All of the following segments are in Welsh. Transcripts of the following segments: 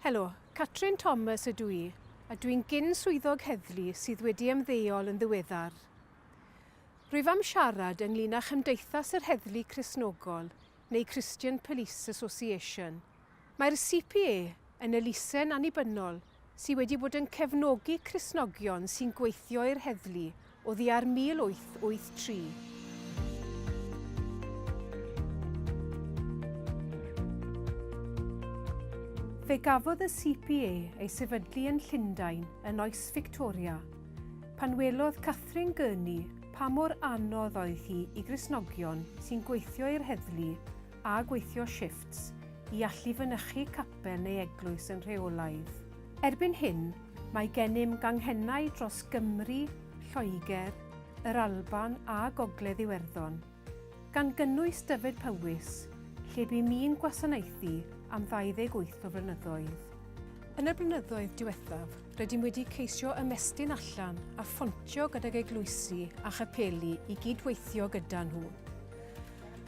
Helo, Catrin Thomas ydw i, a dwi'n gyn swyddog heddlu sydd wedi ymddeol yn ddiweddar. Rwyf am siarad ynglyn â Chymdeithas yr Heddlu Cristnogol, neu Christian Police Association. Mae'r CPA yn elusen annibynnol sydd wedi bod yn cefnogi Cristnogion sy'n gweithio i'r heddlu Oddiar 1883. Fe gafodd y CPA ei sefydlu yn Llundain yn oes Fictoria. Pan welodd Catherine Gurney pa mor anodd oedd hi i Gristnogion sy'n gweithio i'r heddlu a gweithio shiffts i allu fynychu capel neu eglwys yn rheolaidd. Erbyn hyn, mae gennym ganghennau dros Gymru, Lloegr, yr Alban a Gogledd Iwerddon, gan gynnwys Dyfed-Powys, lle bu mi'n gwasanaethu am 28 o flynyddoedd. Yn y blynyddoedd diwethaf, rydym wedi ceisio ymestyn allan a phontio gydag eglwysi a chapeli i gyd-weithio gyda nhw.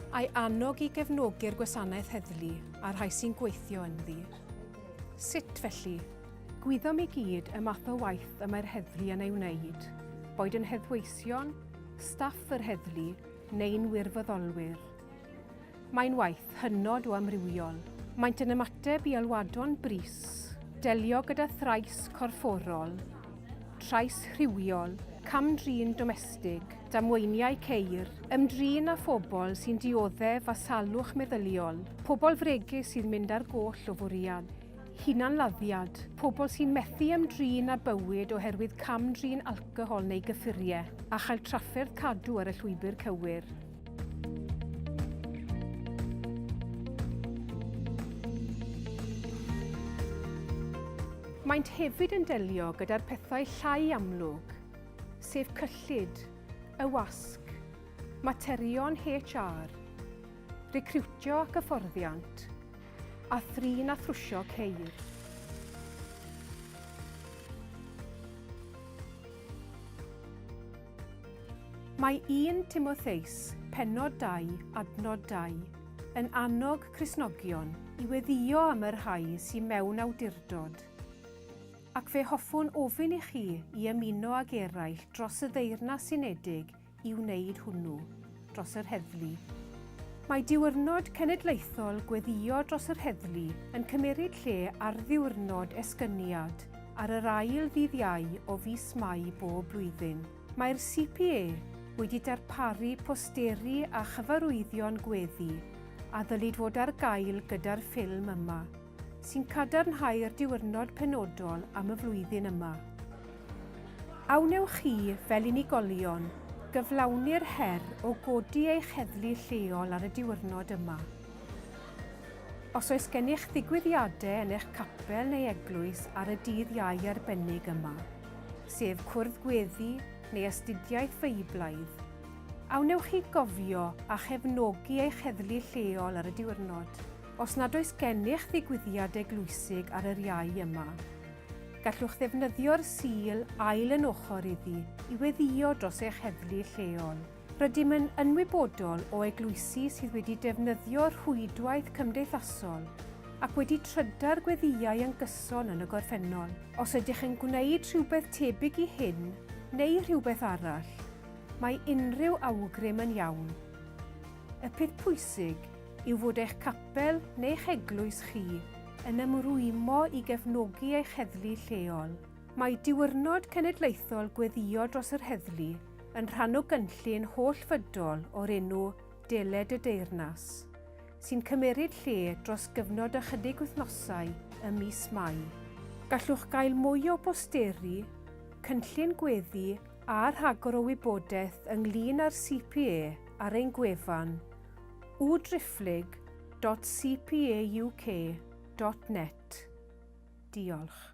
a'i annog i gefnogi'r gwasanaeth heddlu a'r rhai sy'n gweithio ynddi. Sut felly? Gwyddom i gyd y math o waith y mae'r heddlu yn ei wneud, boed yn heddweision, staff yr heddlu neu'n wirfoddolwyr. Mae'n waith hynod o amrywiol. Maent yn ymateb i alwadon brys, delio gyda thrais corfforol, trais rhywiol, cam-drin domestig, damweiniau ceir, ymdrin â phobl sy'n dioddef a salwch meddyliol, pobl fregus sy'n mynd ar goll o fwriad, hunanladdiad, pobl sy'n methu ymdrin â bywyd oherwydd cam-drin alcohol neu gyffuriau, a chael trafferth cadw ar y llwybr cywir. Maent hefyd yn delio gyda'r pethau llai amlwg, sef cyllid, y wasg, materion HR, recriwtio ac hyfforddiant, a thrin a thrwsio ceir. Mae 1 Timotheus, pennod 2, adnod 2, yn annog Cristnogion i weddïo am y rhai sy'n mewn awdurdod. Ac fe hoffwn ofyn i chi i ymuno ag eraill dros y Ddeyrnas Unedig i wneud hwnnw, dros yr heddlu. Mae Diwrnod Cenedlaethol Gweddïo dros yr Heddlu yn cymeryd lle ar Ddiwrnod Esgyniad ar yr ail ddydd Iau o fis Mai bob blwyddyn. Mae'r CPA wedi darparu posteri a chyfarwyddion gweddi a ddylid fod ar gael gyda'r ffilm yma. sy'n cadarnhau'r diwrnod penodol am y flwyddyn yma. A wnewch chi, fel unigolion, gyflawni'r her o godi eich heddlu lleol ar y diwrnod yma? Os oes gennych ddigwyddiadau yn eich capel neu eglwys ar y dydd iau arbennig yma, sef cwrdd gweddi neu astudiaeth Feiblaidd, a wnewch chi gofio a chefnogi eich heddlu lleol ar y diwrnod? Os nad oes gennych ddigwyddiad eglwysig ar yr iau yma, gallwch ddefnyddio'r Sul ail yn ochr iddi i weddïo dros eich heddlu lleol. Rydym yn ynwybodol o eglwysi sydd wedi defnyddio rhwydwaith cymdeithasol ac wedi trydar gweddïau yn gyson yn y gorffennol. Os ydych yn gwneud rhywbeth tebyg i hyn neu rhywbeth arall, mae unrhyw awgrym yn iawn. Y peth pwysig yw fod eich capel neu'ch eglwys chi yn ymrwymo i gefnogi eich heddlu lleol. Mae Diwrnod Cenedlaethol Gweddïo Dros yr Heddlu yn rhan o gynllun holl-fydol o'r enw Deled y Deyrnas, sy'n cymeryd lle dros gyfnod ychydig wythnosau ym mis Mai. Gallwch gael mwy o bosteri, cynllun gweddi a rhagor o wybodaeth ynglŷn â'r CPA ar ein gwefan www.driphlyg.cpauk.net Diolch.